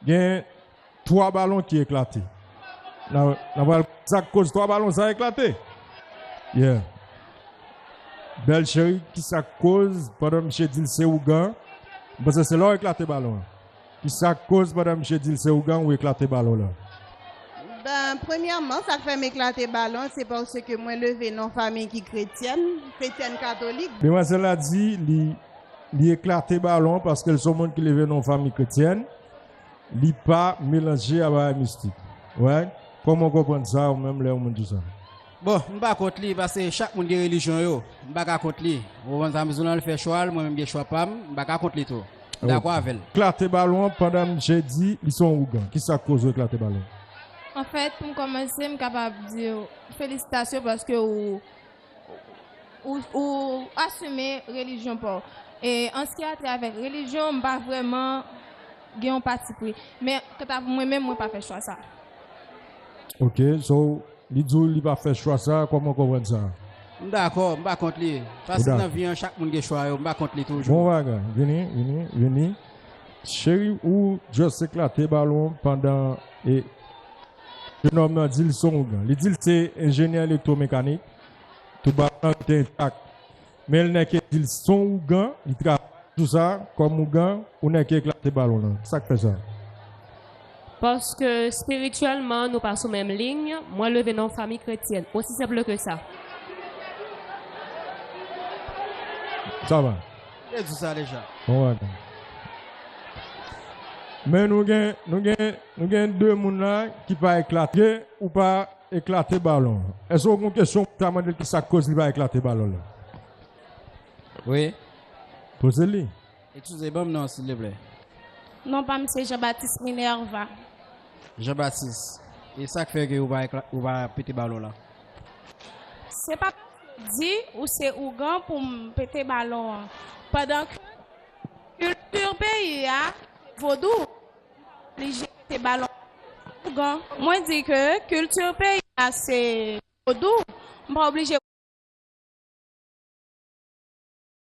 gen 3 balon ki eklate. Nan pral sak koz 3 balon sa eklate. Yeah. Bèl cheri ki sak koz pandan misye dil se ougan. M panse se la ou eklate balon an. Ki sak koz pandan misye dil se ougan ou eklate balon la. Ben premyèman sak fèm eklate balon an se paske mwen leve nan yon fanmiy ki kretyèn, kretyèn katolik. Demwazèl la di li. Li eklate balon paske l se yon moun ki leve nan yon fanmi kretyèn. Li pa melanje a bagay mistik. Right? Kòman w konprann sa ou menm lè yon moun di sa? Bon, m pa kont li paske chak moun gen relijyon yo. M pa ka kont li. Ou konprann sa m di w la? Li fè chwa l, mwen menm m gen chwa pa m. M pa ka kont li tou. M dakò avè l. Eklate balon pandan misye di li se yon ougan. Ki sa k koz ou eklate balon? Anfèt, pou m kòmanse, m kapab di w felisitasyon paske ou Ou asime relijyon pa w. E an siyate avèk relijyon, m pa vrèman gen yon patipri. Men, kanta pou mwen menm, mwen pa fè chwa sa. Ok, so li di w li pa fè chwa sa, kòman w konprann sa? M dakò, m pa kont li. Paske nan vi an, chak moun gen chwa yo, m pa kont li toujou. Bon bagay. Vini, vini, vini. Cheri, ou just eklate balon pandan e. Jenòm nan di l se yon ougan. Li di l se enjenyè elektwomekanik. Tout bagay lan rete entak. Men l nèke di l se yon ougan, li travay sou sa kòm ougan, ou nèke eklate balon lan. Sa k fè sa? Paske espirityèlman nou pa sou menm liy. Mwen leve nan yon fami kretyèn. Osi senp ke sa. Sa va. Yo di sa deja. Bon bagay. Men nou gen, nou gen, nou gen 2 moun la ki pa eklate ou pa eklate balon. Èske ou gen yon kesyon pou ta mande l ki sa k koz li pa eklate balon la? Wi. Poze li. Eskize, ban m non an silvouplè. Non pa m se Jean Baptiste Minerva. Jean Baptiste, e sa k fè ke ou pa ou pa pete balon la? Se pa di ou se ougan pou m pete balon an pandan ke kilti peyi a se vodou m pa oblije pete balon an pou m se ougan mwen di ke kilti peyi a se vodou m pa oblije